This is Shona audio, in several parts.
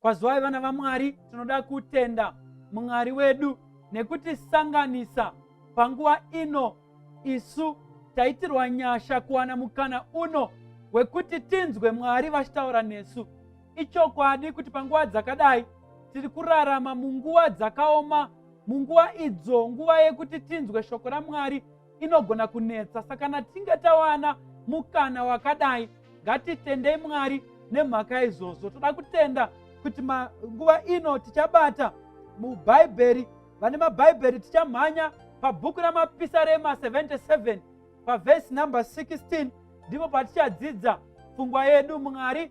Kwazwai vana vaMwari, tinoda kutenda Mwari wedu nekutisanganisa panguva ino isu taitirwa nyasha kuwana mukana uno wekuti tinzwe Mwari vachitaura nesu. Ichokwadi kuti panguva dzakadai tiri kurarama munguva dzakaoma, munguva idzo nguva yekuti tinzwe shoko raMwari inogona kunetsa sakana tinge tawana mukana wakadai ngatitendei mwari nemhaka izvozvo toda kutenda kuti nguva ino tichabata mubhaibheri vane mabhaibheri tichamhanya pabhuku ramapisarema 77 pavhesi number 16 ndipo patichadzidza pfungwa yedu mwari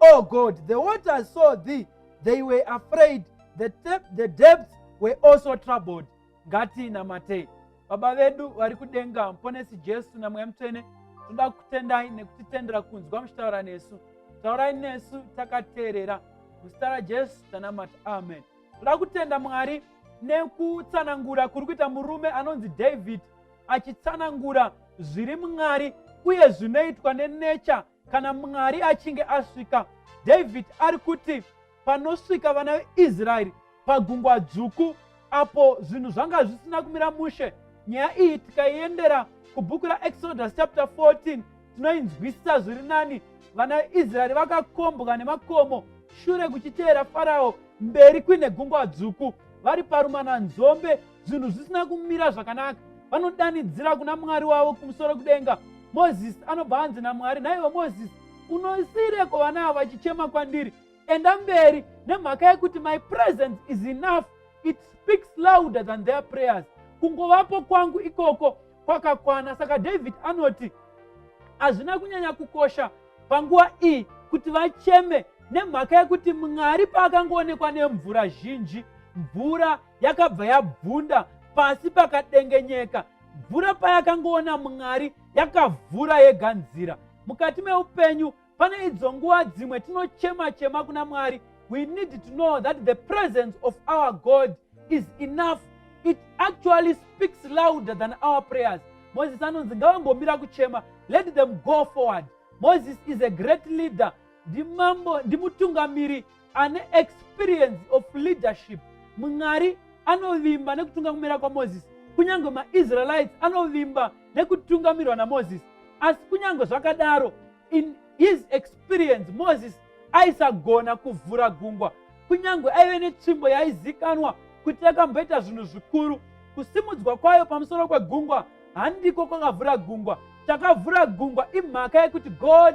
O God, the waters saw thee, they were afraid, the, the depths were also troubled. Ngatinamatei. Baba vedu vari kudenga, Mponesi Jesu naMweya Mutsvene, tinoda kutendai nekutitendera kunzwa muchitaura nesu. Taurai nesu takateerera. Muzita raJesu tanamata. Amen. Toda kutenda Mwari nekutsanangura kuri kuita murume anonzi David achitsanangura zviri Mwari uye zvinoitwa nenecha kana mwari achinge asvika david ari kuti panosvika vana veisraeri pagungwa dzvuku apo zvinhu zvanga zvisina kumira mushe nyaya iyi tikaiendera kubhuku raexodus chapter 14 tinoinzwisisa zviri nani vana veisraeri vakakombwa nemakomo shure kuchiteera farao mberi kuine gungwa dzvuku vari parumana nzombe zvinhu zvisina kumira zvakanaka vanodanidzira kuna mwari wavo kumusoro kudenga mozisi anobva anzi namwari naivo mozisi unosireko vana avo vachichema kwandiri enda mberi nemhaka yekuti my presence is enough it speaks louder than their prayers kungovapo kwangu ikoko kwakakwana saka david anoti hazvina kunyanya kukosha panguva iyi kuti vacheme nemhaka yekuti mwari paakangoonekwa nemvura zhinji mvura yakabva yabvunda pasi pakadengenyeka mvura payakangoona mwari yakavhura yega nzira mukati meupenyu pane idzo nguva dzimwe tinochema chema kuna mwari we need to know that the presence of our god is enough it actually speaks louder than our prayers moses anonzi ngavambomira kuchema let them go forward moses is a great leader ndimambo ndimutungamiri ane experience of leadership mwari anovimba nekutunga kumira kwamozisi kunyange maisraelites anovimba nekutungamirwa namozisi asi kunyange zvakadaro in his experience mozisi aisagona kuvhura gungwa kunyange aive netsvimbo yaizikanwa kuti yakamboita zvinhu zvikuru kusimudzwa kwayo pamusoro kwegungwa handiko kwakavhura gungwa chakavhura gungwa imhaka yekuti god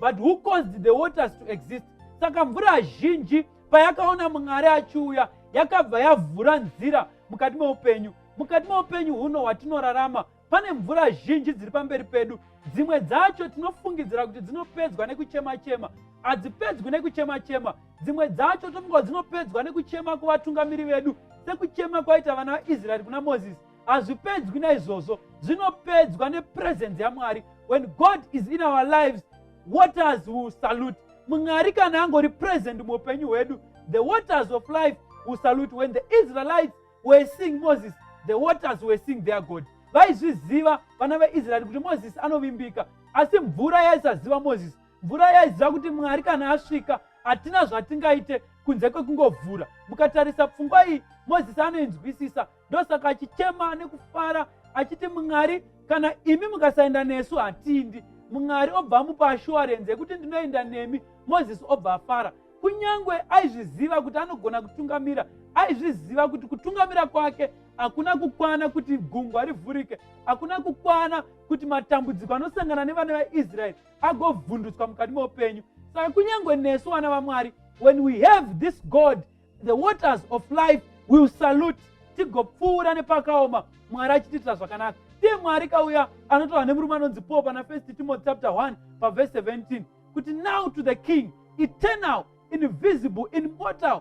but who caused the waters to exist saka mvura zhinji payakaona mwari achiuya yakabva yavhura nzira mukati meupenyu mukati meupenyu huno hwatinorarama pane mvura zhinji dziri pamberi pedu dzimwe dzacho tinofungidzira kuti dzinopedzwa nekuchema chema hadzipedzwi nekuchema chema dzimwe dzacho tofunga kuti dzinopedzwa nekuchema kuvatungamiri vedu sekuchema kwaita vana vaisraeri kuna mozisi hazvipedzwi naizvozvo zvinopedzwa nepresence yamwari when god is in our lives waters will salute mwari kana angori present muupenyu hwedu the waters of life will salute when the israelites were seeing moses the waters were seeing their god vaizviziva vana veisraeri kuti mozisi anovimbika asi mvura yaisaziva mozisi mvura yaiziva kuti mwari kana asvika hatina zvatingaite kunze kwekungovhura mukatarisa pfungwa iyi mozisi anoinzwisisa ndosaka achichema nekufara achiti mwari kana imi mukasaenda nesu hatindi mwari obva amupa ashuwarenzi yekuti ndinoenda nemi mozisi obva afara kunyange aizviziva kuti anogona kutungamira aizviziva kuti kutungamira kwake hakuna kukwana kuti gungwa rivhurike hakuna kukwana kuti matambudziko anosangana nevana vaisraeri agovhundutswa mukati meupenyu saka kunyange nesu vana vamwari when we have this god the waters of life will salute tigopfuura nepakaoma mwari achitiitira zvakanaka ndiye mwari kauya anotaura nemurume anonzi paul pana first timothy chapter 1 pavhese 17 kuti now to the king eternal invisible immortal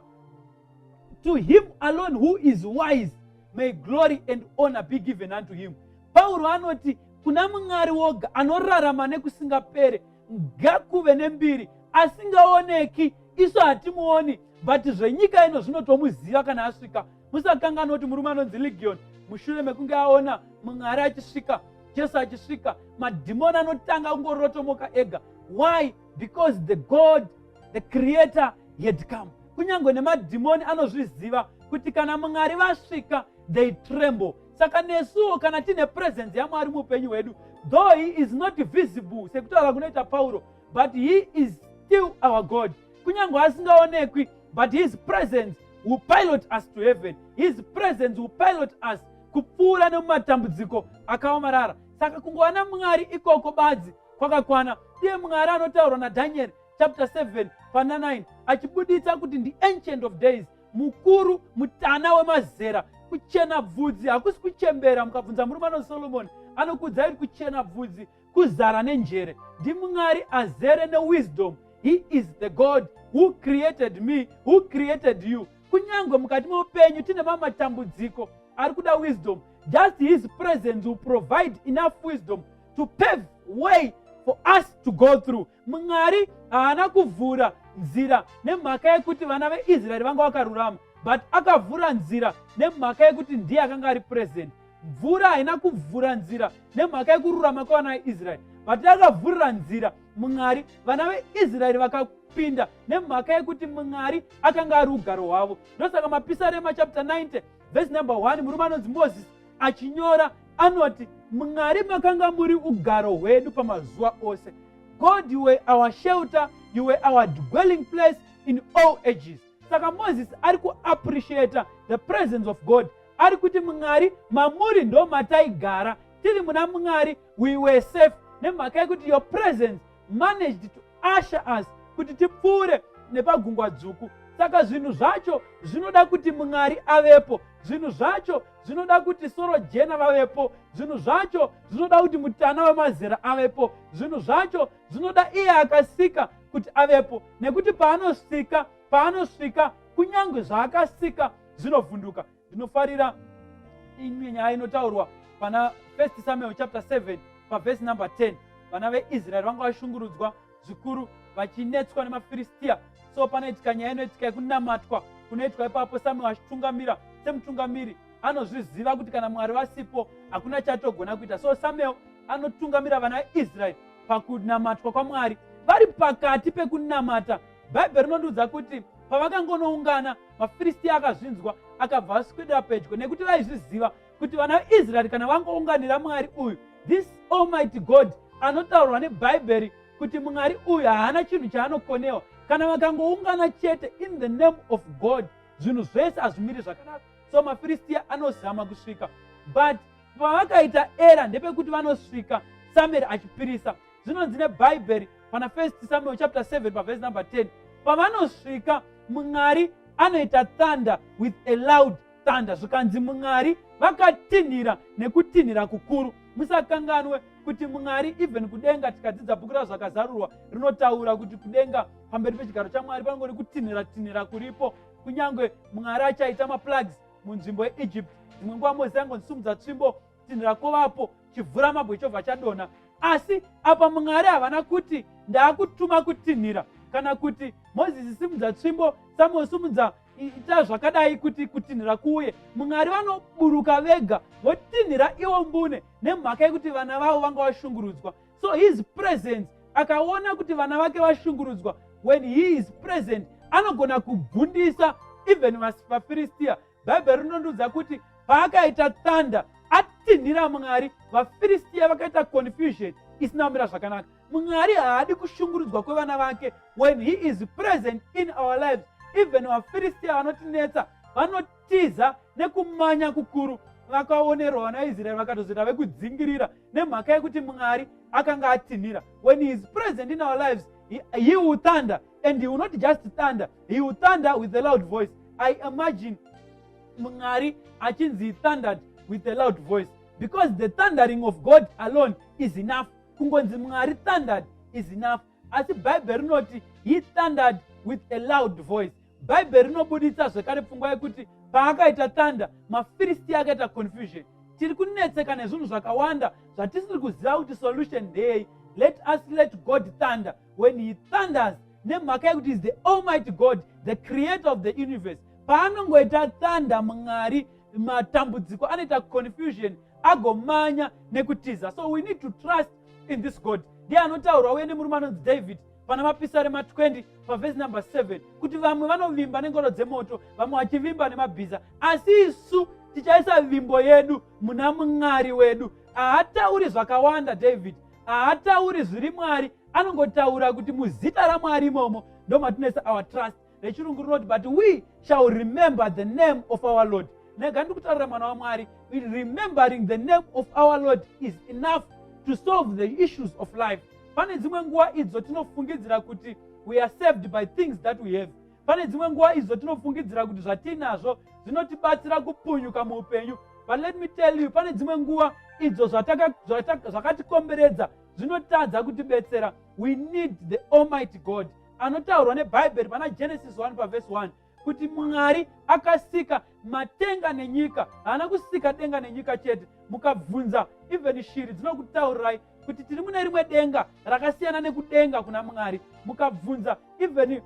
to him alone who is wise may glory and honor be given unto him pauro anoti kuna mwari woga anorarama nekusingapere ngakuve nembiri asingaoneki isu hatimuoni but zvenyika ino zvinotomuziva kana asvika musakanganwa kuti murume anonzi legion mushure mekunge aona mwari achisvika jesu achisvika madhimoni anotanga kungorotomoka ega why because the god the creator had come kunyange nemadhimoni anozviziva kuti kana mwari vasvika they tremble saka nesuwo kana tiine presence yamwari muupenyu hwedu though he is not visible sekutaura kunoita pauro but he is still our god kunyange asingaonekwi but his presence will pilot us to heaven his presence will pilot us kupfuura nemumatambudziko akaomarara saka kungova namwari ikoko badzi kwakakwana iye mwari anotaurwa nadhanieri chapter 7 pana 9 achibuditsa kuti ndi ancient of days mukuru mutana wemazera kuchena bvudzi hakusi kuchembera mukabvunza murume ano solomoni anokuudzai kuti kuchena bvudzi kuzara nenjere ndimwari azere newisdom he is the god who created me who created you kunyange mukati meupenyu tine mamwe matambudziko ari kuda wisdom just his presence will provide enough wisdom to pave way for us to go through mwari haana kuvhura nzira nemhaka yekuti vana veisraeri vanga vakarurama but akavhura nzira nemhaka yekuti ndiye akanga ari purezident mvura haina kuvhura nzira nemhaka yekururama kwevana veisraeri but akavhurira nzira mwari vana veisraeri vakapinda nemhaka yekuti mwari akanga ari ugaro hwavo ndosaka mapisarema chapter 90 vhesi number 1 murume anonzi moses achinyora anoti mwari makanga muri ugaro hwedu pamazuva ose god you were our shelter you were our dwelling place in all ages saka mozisi ari kuappreciata the presence of god ari kuti mwari mamuri ndo mataigara tiri muna mwari we were safe nemhaka yekuti your presence managed to usher us kuti tipfuure nepagungwa dzvuku saka zvinhu zvacho zvinoda kuti mwari avepo zvinhu zvacho zvinoda kuti soro jena vavepo zvinhu zvacho zvinoda kuti mutana wemazera avepo zvinhu zvacho zvinoda iye akasika kuti avepo nekuti paanosika paanosvika kunyange zvaakasika zvinovhunduka Ndinofarira imwe nyaya inotaurwa pana 1 Samuel chapter 7 pavhesi number 10 vana veisraeri vanga vashungurudzwa zvikuru vachinetswa nemafiristiya so panoitika nyaya inoitika yekunamatwa kunoitwa ipapo samuel achitungamira semutungamiri anozviziva kuti kana mwari vasipo hakuna chatogona kuita so samuel anotungamira vana veisraeri pakunamatwa kwamwari vari pakati pekunamata bhaibheri rinondiudza kuti pavakangonoungana mafiristiya akazvinzwa akabva aswedera pedyo nekuti vaizviziva kuti vana vaisraeri kana vangounganira mwari uyu this almighty god anotaurwa nebhaibheri kuti mwari uyu haana chinhu chaanokonewa kana vakangoungana chete in the name of god zvinhu zvese hazvimiri zvakanaka so mafiristiya anozama kusvika but pavakaita era ndepekuti vanosvika samueri achipirisa zvinonzi nebhaibheri pana first samuel chapter 7 pavhesi number 10 pavanosvika mwari anoita thunder with a loud thunder zvikanzi mwari vakatinhira nekutinhira kukuru musakanganwe kuti mwari even kudenga tikadzidza bhuku razvakazarurwa rinotaura kuti kudenga pamberi pechigaro chamwari panongori kutinhira tinhira kuripo kunyange mwari achaita maplugs munzvimbo yeegypt dzimwe nguva mozisi angondisimudza tsvimbo tsinhira kovapo chivhura mabwe chobva chadona asi apa mwari havana kuti ndaakutuma kutinhira kana kuti mozisi simudza tsvimbo samuel simudza ita zvakadai kuti kutinhira kuuye mwari vanoburuka vega votinhira iwo mbune nemhaka yekuti vana vavo vanga vashungurudzwa so his presence akaona kuti vana vake vashungurudzwa when he is present anogona kubvundisa even vafiristiya bhaibheri rinondiudza kuti paakaita thunder atinhira mwari vafiristiya vakaita confusion isina kumira zvakanaka mwari haadi kushungurudzwa kwevana vake when he is present in our lives even vafiristiya vanotinetsa vanotiza nekumanya kukuru vakaonerwa vanaisraeri vakatozoita vekudzingirira nemhaka yekuti mwari akanga atinhira when he is present in our lives he, he will thunder and he will not just thunder he will thunder with a loud voice i imagine mwari achinzi he thundered with a loud voice because the thundering of god alone is enough kungonzi mwari thundered is enough asi bhaibheri rinoti he thundered with a loud voice bhaibheri rinobuditsa zvekare pfungwa yekuti paakaita thunder mafiristi akaita confusion tiri kunetseka nezvinhu zvakawanda zvatisiri kuziva kuti solution ndeyei let us let god thunder when he thunders nemhaka yekuti is the almighty god the creator of the universe paanongoita thunder mwari matambudziko anoita confusion agomanya nekutiza so we need to trust in this god ndiye anotaurwa uye nemurume anonzi david pana mapisari ma20 pavhesi number 7 kuti vamwe vanovimba nengoro dzemoto vamwe vachivimba nemabhiza asi isu tichaisa vimbo yedu muna mwari wedu haatauri zvakawanda david haatauri zviri mwari anongotaura kuti muzita ramwari imomo ndomatineisa our trust rechirungu rinoti but we shall remember the name of our lord nega ndi kutaurira mwana wamwari remembering the name of our lord is enough to solve the issues of life pane dzimwe nguva idzo tinofungidzira kuti we are saved by things that we have Pane dzimwe nguva izvo tinofungidzira kuti zvatinazvo zvinotibatsira kupunyuka muupenyu but let me tell you pane dzimwe nguva idzo zvakatikomberedza zvinotadza kutibetsera we need the almighty god anotaurwa nebhaibheri pana genesis 1 pavhesi 1 kuti mwari akasika matenga nenyika haana kusika denga nenyika chete mukabvunza even shiri dzinokutaurirai kuti tiri mune rimwe denga rakasiyana nekudenga kuna mwari mukabvunza even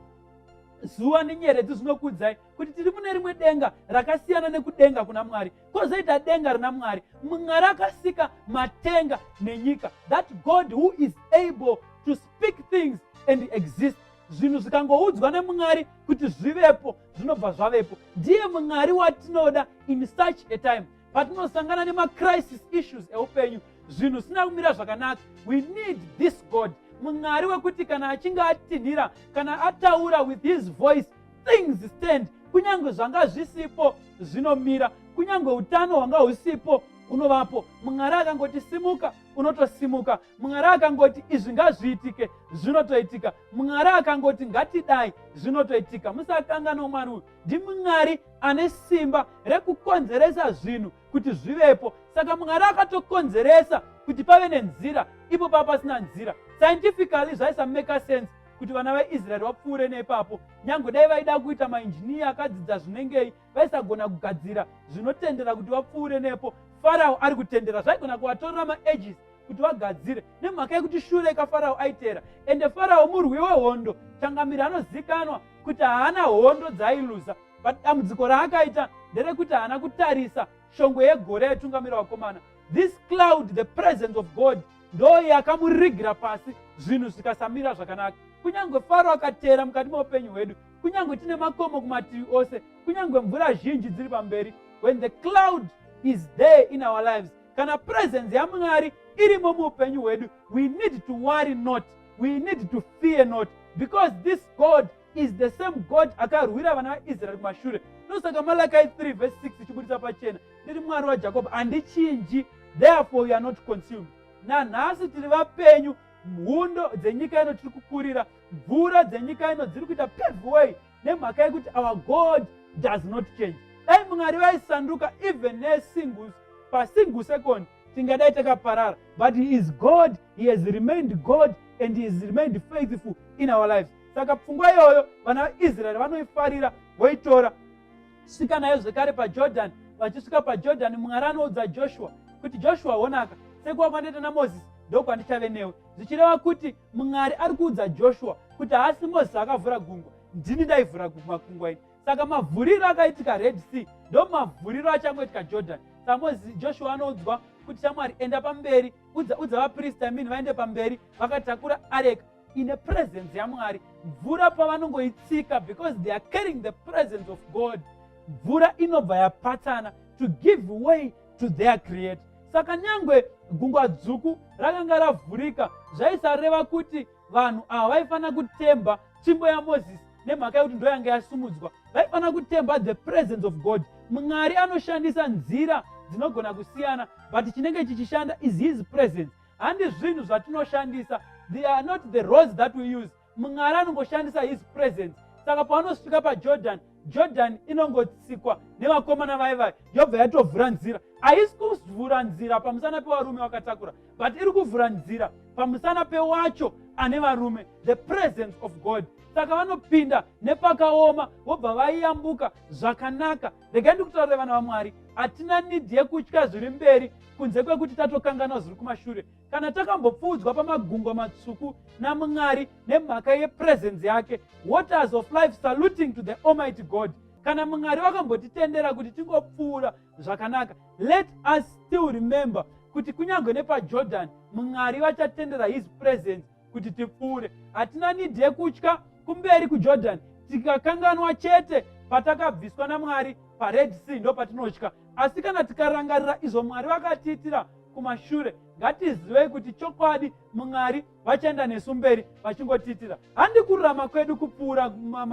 zuva nenyeredzi zvinokuudzai kuti tiri mune rimwe denga rakasiyana nekudenga kuna mwari kwozoita denga rina mwari mwari akasika matenga nenyika that god who is able to speak things and exist zvinhu zvikangoudzwa nemwari kuti zvivepo zvinobva zvavepo ndiye mwari watinoda in such a time patinosangana nemacrisis issues eupenyu zvinhu zvisina kumira zvakanaka we need this god mwari wekuti kana achinge atinhira kana ataura with his voice things stand kunyange zvanga zvisipo zvinomira kunyange utano hwanga husipo hunovapo mwari akangotisimuka unotosimuka mwari akangoti izvi ngazviitike zvinotoitika mwari akangoti ngatidai zvinotoitika musakanganwa mwari uyu ndimwari ane simba rekukonzeresa zvinhu kuti zvivepo saka mwari akatokonzeresa kuti pave nenzira ipo pava pasina nzira scientifically zvaisameka sense kuti vana veisraeri vapfuure neipapo nyange dai vaida kuita mainjiniya akadzidza zvinengei vaisagona kugadzira zvinotendera kuti vapfuure nepo farao ari kutendera zvaigona kuvatorera maages kuti vagadzire nemhaka yekuti shure kafarao aiteera ende farao murwi wehondo changamiri anozikanwa kuti haana hondo dzaailuza but dambudziko raakaita nderekuti haana kutarisa shongwe yegore yaitungamira vakomana this cloud the presence of god ndoo yakamurigira pasi zvinhu zvikasamira zvakanaka kunyange faro akateera mukati meupenyu hwedu kunyange tine makomo kumativi ose kunyange mvura zhinji dziri pamberi when the cloud is there in our lives kana presence yamwari irimo muupenyu hwedu we need to worry not we need to fear not because this god is the same god akarwira vana vaisraeri kumashure ndosaka malakai 3 vs 6 ichibudisa pachena ndiri mwari wajakobho handichinji therefore you are not consumed nanhasi tiri vapenyu mhundo dzenyika ino tiri kukurira mvura dzenyika ino dziri kuita peveway nemhaka yekuti our god does not change dai mwari vaisanduka even nesingus pasingle second tingadai takaparara but he is god he has remained god and he has remained faithful in our lives saka pfungwa iyoyo vana vaisraeri vanoifarira voitora svika nayo zvekare pajordan vachisvika pajordan mwari anoudza joshua kuti joshua honaka sekuwa kwandaita namozisi ndokwandichave newe zvichireva kuti mwari ari kuudza joshua kuti haasi mozisi akavhura gungwa ndini ndaivhura makungwa ini saka mavhuriro akaitika red sea ndo mavhuriro achangoitika jordan samozi joshua anoudzwa kuti shamwari enda pamberi udza udza vaprista mini vaende pamberi vakatakura areka ine presence yamwari mvura pavanongoitsika because they are carrying the presence of god mvura inobva yapatsana to give way to their creator saka nyangwe gungwa dzvuku rakanga ravhurika zvaisareva kuti vanhu ava vaifanira kutemba tsvimbo yamozisi nemhaka yekuti ndo yanga yasumudzwa vaifanira kutemba the presence of god mwari anoshandisa nzira dzinogona kusiyana but chinenge chichishanda is his presence handi zvinhu zvatinoshandisa they are not the roads that we use mwari anongoshandisa his presence saka pavanosvika pajordan jordan inongotsikwa nevakomana vaye vaye yobva yatovhura nzira haisi kuvhura nzira pamusana pevarume vakatakura but iri kuvhura nzira pamusana pewacho ane varume the presence of god saka vanopinda nepakaoma vobva vaiyambuka zvakanaka regai ndikutaurire vana vamwari hatina nidhi yekutya zviri mberi kunze kwekuti tatokanganwa zviri kumashure kana takambopfuudzwa pamagungwa matsvuku namwari nemhaka yepresence yake waters of life saluting to the almighty god kana mwari vakambotitendera kuti tingopfuura zvakanaka let us still remember kuti kunyange nepajordan mwari vachatendera his presence kuti tipfuure hatina nidhi yekutya kumberi kujordan tikakanganwa chete patakabviswa namwari pared sea ndo patinotya asi kana tikarangarira izvo mwari vakatiitira kumashure ngatizivei kuti chokwadi mwari vachaenda nesu mberi vachingotiitira handi kururama kwedu kupfuura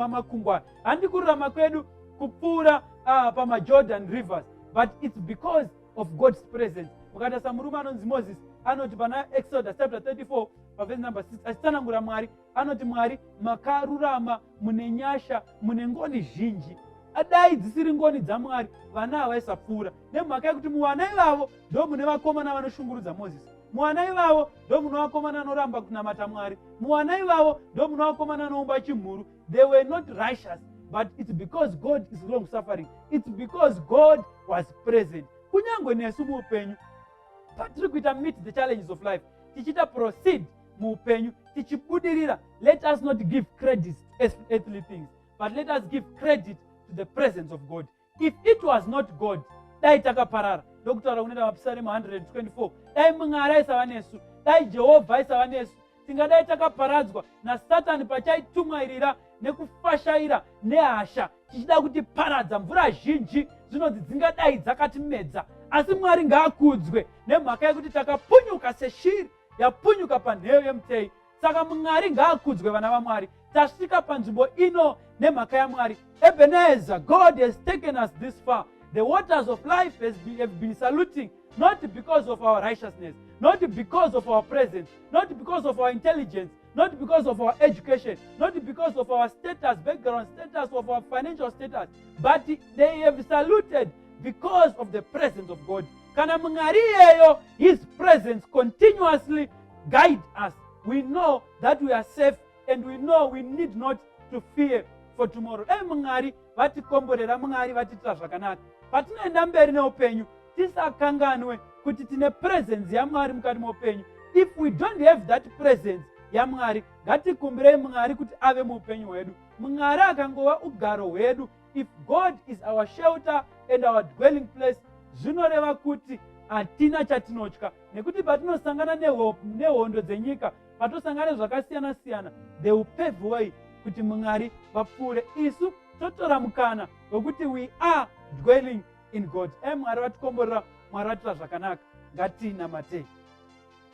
makungwa handi kururama kwedu kupfuura uh, pamajordan rivers but its because of god's presence ukatarisa murume anonzi moses anoti pana exodus chapter 34 pavhesi number 6 achitsanangura mwari anoti mwari makarurama mune nyasha mune ngoni zhinji adai dzisiri ngoni dzamwari vana havaisapfuura nemhaka yekuti muvana ivavo ndo mune vakomana vanoshungurudza mozisi muvana ivavo ndo muno vakomana anoramba kunamata mwari muvana ivavo ndo muno vakomana anoumba chimhuru they were not righteous but it's because god is long suffering it's because god was present kunyange nesu muupenyu patiri kuita meet the challenges of life tichiita proceed muupenyu tichibudirira let us not give credit earthly things but let us give credit to the presence of god if it was not god dai takaparara ndokutaura kuneta mapisaremu 124 dai mwari aisava nesu dai jehovha aisava nesu tingadai takaparadzwa nasatani pachaitumwairira nekufashaira nehasha tichida kuti paradza mvura zhinji dzinonzi dzingadai dzakatimedza asi mwari ngaakudzwe nemhaka yekuti takapunyuka seshiri yapunyuka panheyo yemutei saka mwari ngaakudzwe vana vamwari tasvika panzvimbo ino nemhaka yamwari ebenezer god has taken us this far the waters of life has been, have been saluting not because of our righteousness not because of our presence not because of our intelligence not because of our education not because of our status background status of our financial status but they have saluted because of the presence of god kana mwari iyeyo his presence continuously guide us we know that we are safe and we know we need not to fear for tomorrow dai mwari vatikomborera mwari vatiitira zvakanaka patinoenda mberi neupenyu tisakanganwe kuti tine presence yamwari mukati meupenyu if we don't have that presence yamwari ngatikumbirei mwari kuti ave muupenyu hwedu mwari akangova ugaro hwedu if god is our shelter and our dwelling place zvinoreva kuti hatina chatinotya nekuti patinosangana nehondo dzenyika patosangana nezvakasiyana siyana they will pave way kuti mwari vapfuure isu totora mukana wekuti we are dwelling in god e mwari vatikomborera mwari vatira zvakanaka ngatinamatei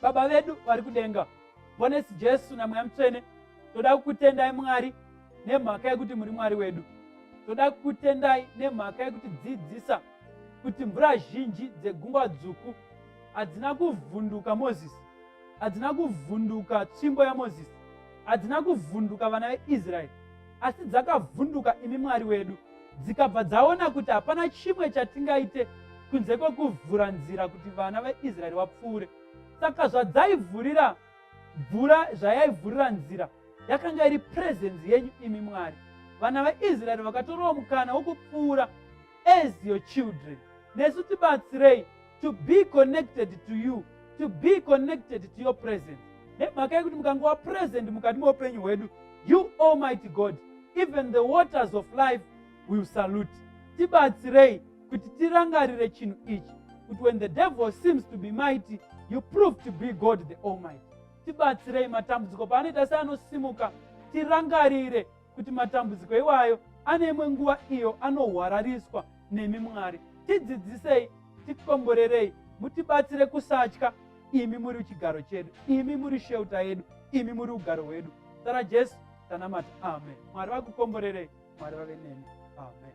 Baba vedu vari kudenga, Mhonesu Jesu naMweya Mutsvene, toda kukutendai Mwari nemhaka yekuti muri Mwari wedu. Toda kukutendai nemhaka yekuti dzidzisa kuti mvura zhinji dzegungwa dzvuku hadzina kuvhunduka Mozisi, hadzina kuvhunduka tsvimbo yaMozisi, hadzina kuvhunduka vana veIsraeri, asi dzakavhunduka imi mwari wedu dzikabva dzaona kuti hapana chimwe chatingaite kunze kwekuvhura nzira kuti vana veisraeri vapfuure saka zvadzaivhurira mvura zvayaivhurira nzira yakanga iri purezenzi yenyu imi mwari vana veisraeri vakatorawo mukana wokupfuura as your children nesu tibatsirei to be connected to you to be connected to your presence nemhaka yekuti mukange wapresent mukati meupenyu hwedu you almighty god even the waters of life will salute tibatsirei kuti tirangarire chinhu ichi kuti when the devil seems to be mighty you prove to be god the almighty tibatsirei matambudziko paanoita seanosimuka tirangarire kuti matambudziko iwayo ane imwe nguva iyo anohwarariswa nemi mwari tidzidzisei tikomborerei mutibatsire kusatya imi muri chigaro chedu imi muri sheuta yedu imi muri ugaro hwedu sara jesu tanamata amen mwari vakukomborerei mwari vave nemi amen